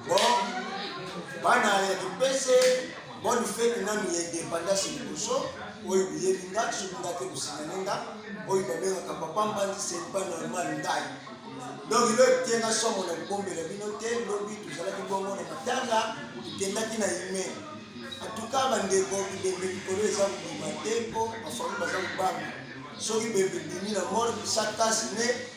Bon, bana ya kipese bonne fete nanu ya independance liboso oyo boyebi nga soki nga te kosinyane nga oyo babengaka papa mbandi c'est pas normal ndai donc ilo etenga somo na kobombela bino te lobi tozalaki bongo na matanga tokendaki na ime atuka bandeko bibembe likolo eza kobima te mpo bafami baza kobanga soki bembe bimi na mor bisakasi ne